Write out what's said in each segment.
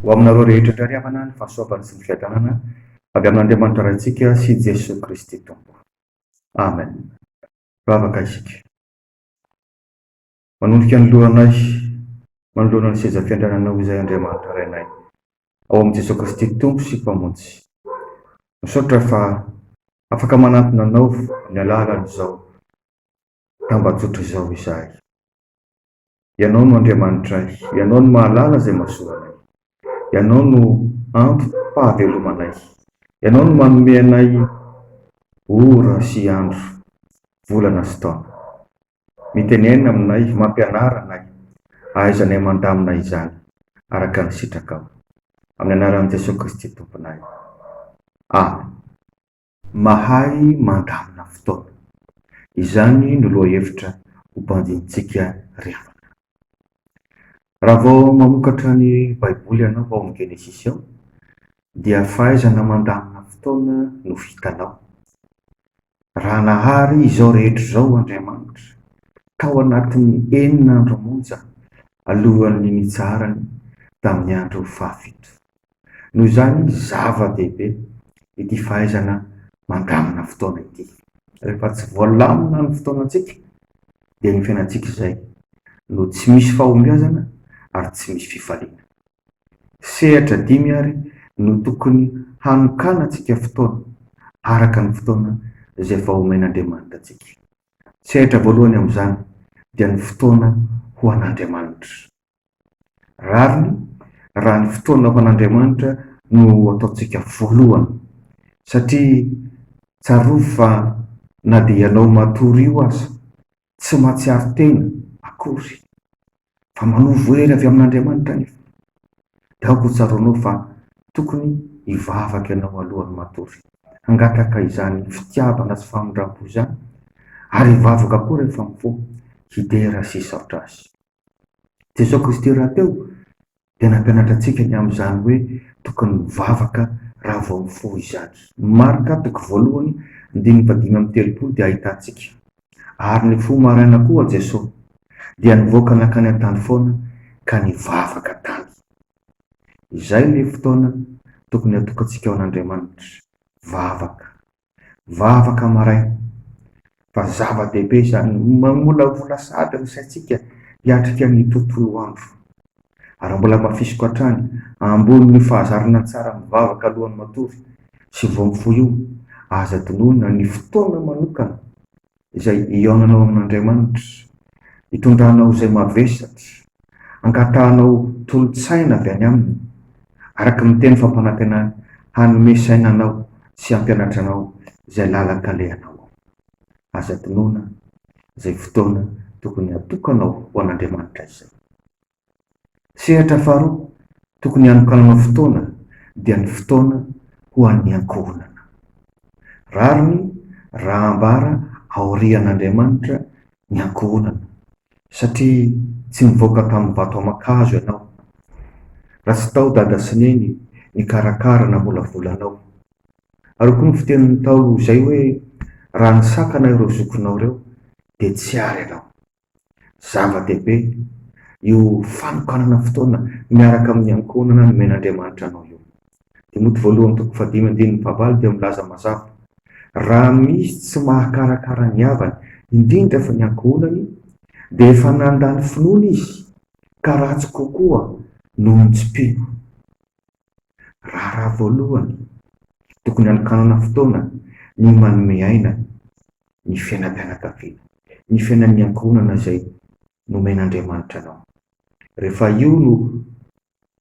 Ho aminareo rehetra indray ry havana ny fahasoavany sy ny fiadanana avy amin'Andriamanitra Raintsika sy Jesoa Kristy Tompo. Amen. Vavaka isika. Manondrika ny lohanay manoloana ny seza fiandriananao izay Andriamanitra Rainay ao amin'i Jesoa Kristy Tompo sy Mpamonjy. Misaotra fa afaka manantona Anao amin'ny alalan'izao tambajotra izao izahay. Ianao no Andriamanitray, Ianao no mahalala izay mahasoa anay, Ianao no antom-pahavelomanay, Ianao no manome anay ora sy andro, volana sy taona. Mitenena aminay, mampianara anay, ahaizanay mandamina izany araka ny sitrakao. Amin'ny anaran'i Jesoa Kristy Tomponay. Amen. Mahay mandamina fotoana. Izany no lohahevitra ho banjinintsika ry havana. Raha vao mamokatra ny Baiboly ianao ao amin'ny Genesisy ao, dia fahaizana mandamina fotoana no vitanao. Raha nahary izao rehetra izao Andriamanitra tao anatin'ny enina andro monja alohan'ny nitsaharany tamin'ny andro fahafito. Noho izany, zava-dehibe ity fahaizana mandamina fotoana ity. Rehefa tsy voalamina ny fotoanantsika, dia ny fiainantsika izay no tsy misy fahombiazana ary tsy misy fifaliana. Sehatra dimy àry no tokony hanokanantsika fotoana, araka ny fotoana izay vao omen'Andriamanitra antsika. Sehatra voalohany amin'izany dia ny fotoana ho an'Andriamanitra. Rariny raha ny fotoana ho an'Andriamanitra no ataontsika voalohany, satria tsarovy fa na dia ianao matory io aza tsy mahatsiaro tena akory fa manovo hery avy amin'Andriamanitra anefa. Dia aoka hotsaroanao fa tokony hivavaka ianao alohan'ny matory. Hangataka izany fitiavana sy famindrampo izany ary hivavaka koa rehefa mifoha hidera sy hisaotra Azy. Jesoa Kristy rahateo dia nampianatra antsika ny amin'izany hoe tokony mivavaka raha vao mifoha izany. Ny Marka toko voalohany andininy fahadimy amby telopolo dia ahitantsika, Ary nifoha maraina koa Jesoa, dia nivoaka nankany an-tany foana ka nivavaka tany. Izay ilay fotoana tokony hatokantsika ho an'Andriamanitra, vavaka, Vavaka maraina. Fa zava-dehibe izany. Mamolavola sahady ny saintsika hiatrika ny tontolo andro. Ary mbola hamafisiko hatrany, ambonin'io fahazarana tsara mivavaka alohan'ny matory sy vao mifoha io, aza adinoina ny fotoana manokana izay hihaonanao amin'Andriamanitra, hitondranao izay mavesatra, hangatahanao tolo-tsaina avy any Aminy, araka ny Teny fampanantenany hanome saina anao sy hampianatra anao izay lalan-kalehanao ao. Aza adinoina izay fotoana tokony hatokanao ho an'Andriamanitra izay. Sehatra faharoa tokony hanokananao fotoana dia ny fotoana ho an'ny ankohonana. Rariny raha ambara aorian'Andriamanitra ny ankohonana, satria tsy nivoaka tamin'ny vato aman-kazo ianao, raha tsy tao dada sy neny nikarakara namolavola anao. Aroako ny fitenin'ny Ntaolo izay hoe, raha nisakana ireo zokinao ireo dia tsy ary ianao. Zava-dehibe io fanokanana fotoana miaraka amin'ny ankohonana nomen'Andriamanitra anao io. Timoty voalohany toko fahadimy andininy fahavalo dia milaza mazava, Raha misy tsy mahakarakara ny havany, indrindra fa ny ankohonany, dia efa nandany finoana izy, ka ratsy kokoa noho ny tsy mpino. Raharaha voalohany, tokony hanokanana fotoana ny manome aina ny fiainam-pianakaviana, ny fiainan'ny ankohonana izay nomen'Andriamanitra anao. Rehefa io no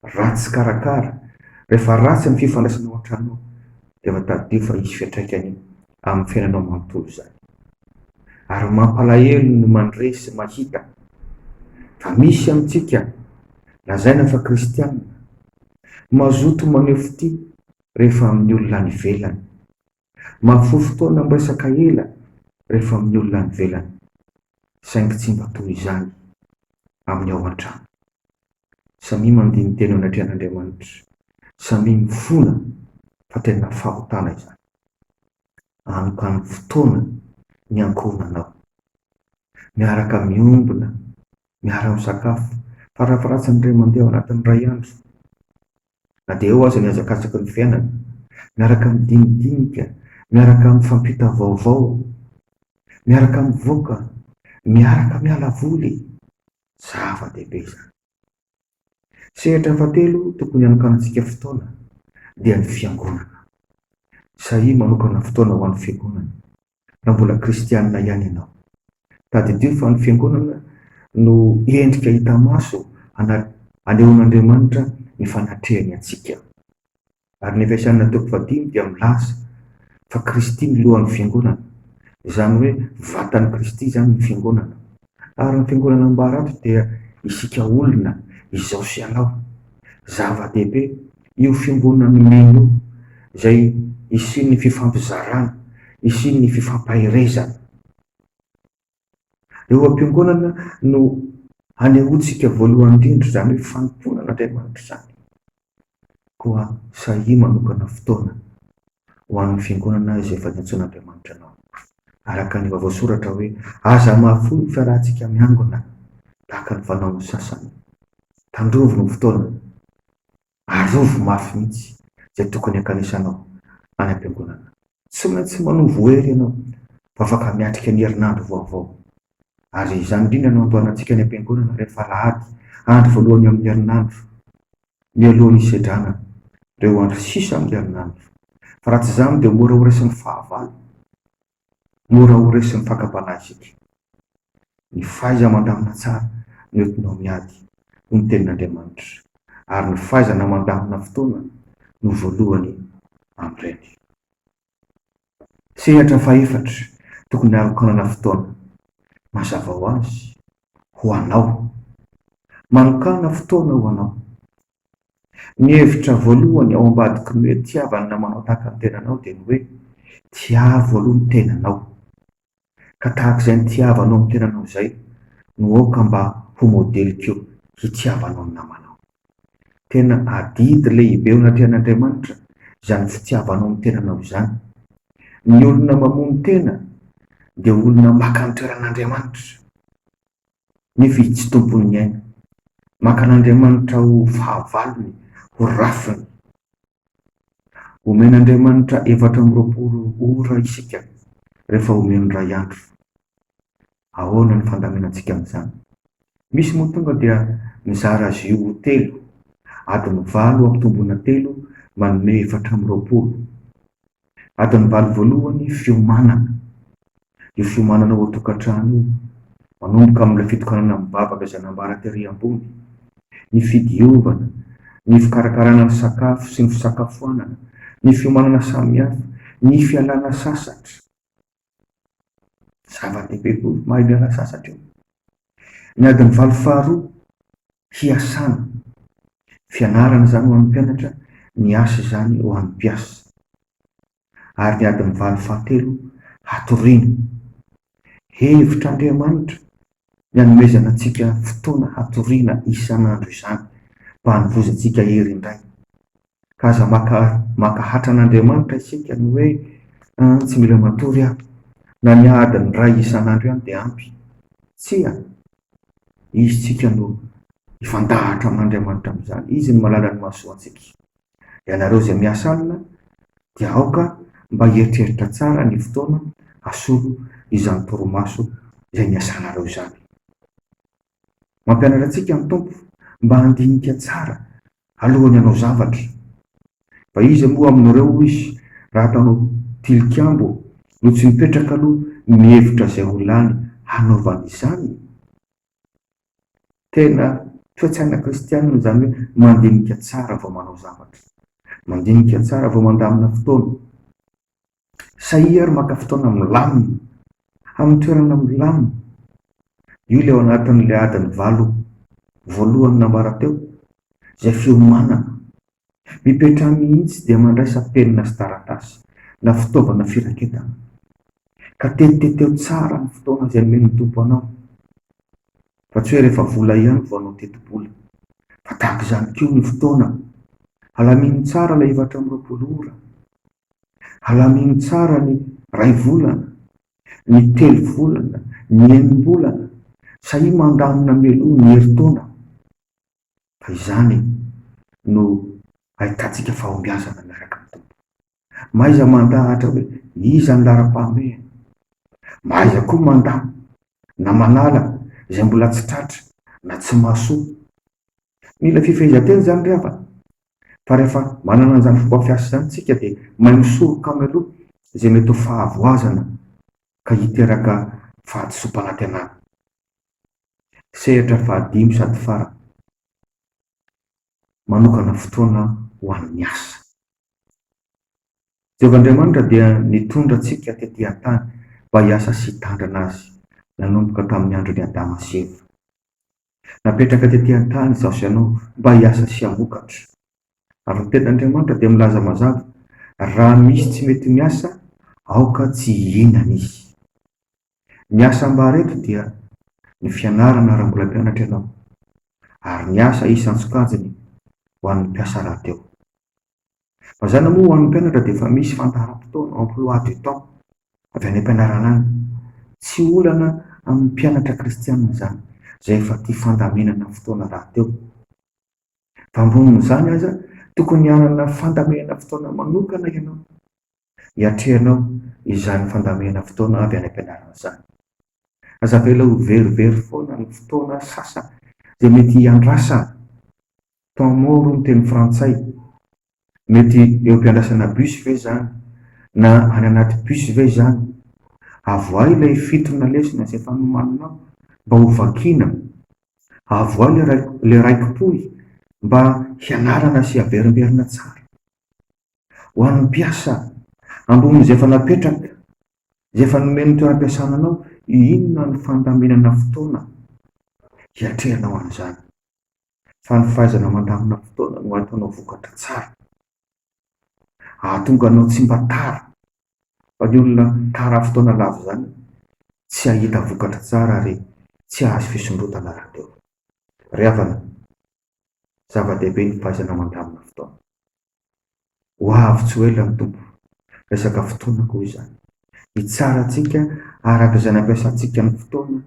ratsy karakara, rehefa ratsy ny fifandraisana ao an-tranonao, dia efa tadidio fa hisy fiantraikany amin'ny fiainanao manontolo izany. Ary mampalahelo ny mandre sy mahita fa misy amintsika lazaina fa kristiana Mazoto maneho fitia rehefa amin'ny olona any ivelany. Mahafoy fotoana miresaka ela rehefa amin'ny olona any ivelany, saingy tsy mba toy izany amin'ny ao an-trano. Samia mandini-tena anatrehan'Andriamanitra, samia mifona fa tena fahotana izany. Anokano fotoana ny ankohonanao. Miaraka miombona miara-misakafo. Farafaharatsiny indray mandeha ao anatin'ny iray andro, na dia eo aza ny hazakazaky ny fiainana, miaraka midinidinika, miaraka mifampita vaovao, miaraka mivoaka, miaraka miala voly. Zava-dehibe izany. Sehatra fahatelo tokony hanokanantsika fotoana dia ny Fiangonana. Sahia manokana fotoana ho an'ny Fiangonana na mbola kristianina ihany ianao. Tadidio fa ny Fiangonana no endrika hita maso hanehoan'Andriamanitra ny fanatrehany antsika. Ary ny Efesianina toko fahadimy dia milaza fa Kristy no lohan'ny Fiangonana. Izany hoe vatan'i Kristy izany ny Fiangonana. Ary ny fiangonana ambarato dia isika olona izao sy anao. Zava-dehibe io fiongonana nomeny io izay isian'ny fifampizarana, isian'ny fifampaherezana. Eo am-piangonana no hanehoantsika voalohany indrindra izany hoe fanompoana an'Andriamanitra izany. Koa sahia manokana fotoana ho an'ny Fiangonana izay efa nantsoin'Andriamanitra anao. Araka ny vaovao soratra hoe, Aza hamafihohy ny fiarahantsika miangona, tahaka ny fanaon'ny sasany. Tandrovy ny fotoana. Arovy mafy mihitsy izay tokony hankanisanao any am-piangonana. Tsy maintsy manovo hery ianao, vao afaka miatrika ny herinandro vaovao. Ary izany indrindra no andoalantsika any am-piangonana rehefa alahady, andro voalohany amin'ny herinandro, mialoha ny hisedrana ireo andro sisa amin'ny herinandro. Fa raha tsy izany dia mora ho resin'ny fahavalo, mora ho resin'ny fakam-panahy isika. Ny fahaiza mandamina tsara no entinao miady, hoy ny Tenin'Andriamanitra, ary ny fahaizana mandamina fotoana no voalohany amin'ireny. Sehatra fahefatra tokony harokanana fotoana mazava ho azy ho anao. Manokàna fotoana ho anao. Ny hevitra voalohany ao ambadiky ny hoe tiava ny namanao tahaka ny tenanao dia ny hoe tiavo aloha ny tenanao. Ka tahaka izay nitiava anao ny tenanao izay no aoka mba ho modeliko hitiava anao ny namanao. Tena adidy lehibe eo anatrehan'Andriamanitra izany fitiava anao ny tenanao izany. Ny olona mamono tena dia olona maka ny toeran'Andriamanitra nefa izy tsy tompon'ny aina. Maka an'Andriamanitra ho fahavalony, ho rafiny. Omen'Andriamanitra efatra amby roapolo ora isika rehefa omeny iray andro. Ahoana ny fandaminantsika amin'izany? Misy moa tonga dia mizara azy io ho telo, adiny valo ampitomboina telo manome efatra amby roapolo. Adin'ny valo voalohany, fiomanana. Io fiomanana ao an-tokantrano io, manomboka amin'ilay fitokanana mivavaka izay nambara tery ambony, ny fidiovana, ny fikarakarana ny sakafo sy ny fisakafoanana, ny fiomanana samihafa, ny fialana sasatra. Zava-dehibe koa ny mahay miala sasatra eo. Ny adiny valo faharoa, hiasana. Fianarana izany ho an'ny mpianatra, ny asa izany ho an'ny mpiasa. Ary ny adiny valo fahatelo, hatoriana. Hevitr'Andriamanitra ny hanomezana antsika fotoana hatoriana isan'andro izany, mba hanovozantsika hery indray. ka aza maka mankahatra an'Andriamanitra isika ny hoe an tsy mila matory aho, na ny adiny iray isan'andro ihany dia ampy. Tsia, izy tsika no hifandahatra amin'Andriamanitra amin'izany, izy no malala ny mahasoantsika. Ianareo izay miasa alina dia aoka mba hieritreritra tsara ny fotoana hasolo izany torimaso izay niasanareo izany. Mampianatra antsika ny Tompo mba handinika tsara alohan'ny hanao zavatra. Fa iza moa aminareo, hoy Izy, raha ataonao tilikambo no tsy mipetraka aloha mihevitra izay ho lany hanaovany izany? Tena toe-tsaina kristianina izany hoe mandinika tsara vao manao zavatra, mandinika tsara vao mandamina fotoana. Sahia ary maka fotoana milamina, amin'ny toerana milamina. Io ilay ao anatin'ilay adiny valo voalohany nambara teo, izay fiomanana. Mipetraha mihitsy dia mandraisa penina sy taratasy na fitaovana firaketana, ka tetiteteho tsara ny fotoana izay nomen'ny Tompo anao, fa tsy hoe rehefa vola ihany vao hanao tetibola, fa tahaka izany koa ny fotoana. Alamino tsara ilay efatra amby roapolo ora. Alamino tsara ny ray volana, ny telo volana, ny enim-bolana, sahia mandamina mialoha ny herintaona fa izany no ahitantsika fahombiazana miaraka amin'ny Tompo. Mahaiza mandahatra hoe iza ny laharam-pahamehana. Mahaiza koa mandà na manala izay mbola tsy tratra na tsy mahasoa. Mila fifehezan-tena izany ry havana Fa rehefa manana an'izany fomba fiasa izany isika dia mahay misoroka mialoha izay mety ho fahavoazana ka hiteraka fahadisoam-panantenana. Sehatra fahadimy sady farany, manokana fotoana ho an'ny asa. Jehovah Andriamanitra dia nitondra antsika tetỳ an-tany mba hiasa sy hitandrina azy nanomboka tamin'ny andron'i Adama sy Eva. Napetraka tety an-tany izaho sy ianao mba hiasa sy hamokatra. Ary ny Tenin'Andriamanitra dia milaza mazava, Raha misy tsy mety miasa, aoka tsy hihinana izy. Ny asa ambara eto dia ny fianarana raha mbola mpianatra ianao, ary ny asa isan-tsokajiny ho an'ny mpiasa rahateo. Mazàna moa ho an'ny mpianatra dia efa misy fandaharam-potoana, emploi du temps, avy any am-pianarana any. Tsy olana amin'ny mpianatra kristiana izany, izay efa tia fandaminana fotoana rahateo. Fa ambonin'izany aza, tokony hanana fandaminana fotoana manokana ianao, hiatrehanao izany fandaminana fotoana avy any am-pianarana izany. Aza avela ho verivery foana ny fotoana sasany izay mety hiandrasana Temps mort hono teny frantsay. Mety eo am-piandrasana bus ve izany? Na any anaty bus ve izany? Avoahy ilay fitona lesona izay efa nomaninao mba ho vakiana. Avoahy ilay rai, ilay raikipohy mba hianarana sy averimberina tsara. Ho an'ny mpiasa ambonin'izay efa napetraka, izay efa nomen'ny toeram-piasana anao, inona no fandaminana fotoana hiatrehanao an'izany? fa ny fahaizana mandamina fotoana no hahatonga anao vokatra tsara. Hahatonga anao tsy mba tara, fa ny olona tara fotoana lava izany tsy hahita vokatra tsara ary tsy hahazo fisondrotana rahateo. Ry havana, zava-dehibe ny fahaizana mandamina fotoana. Ho avy tsy ho ela ny Tompo. Resaka fotoana koa izany. Hitsara antsika araka izay nampiasantsika ny fotoana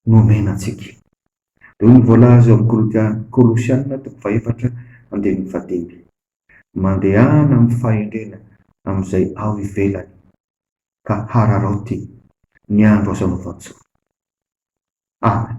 nomena antsika. Dia hoy ny voalaza eo amin'ny Kolosiana toko fahefatra andininy fahadimy, Mandehana amin'ny fahendrena amin'izay ao ivelany, ka hararaoty ny andro azo anaovan-tsoa. Amen.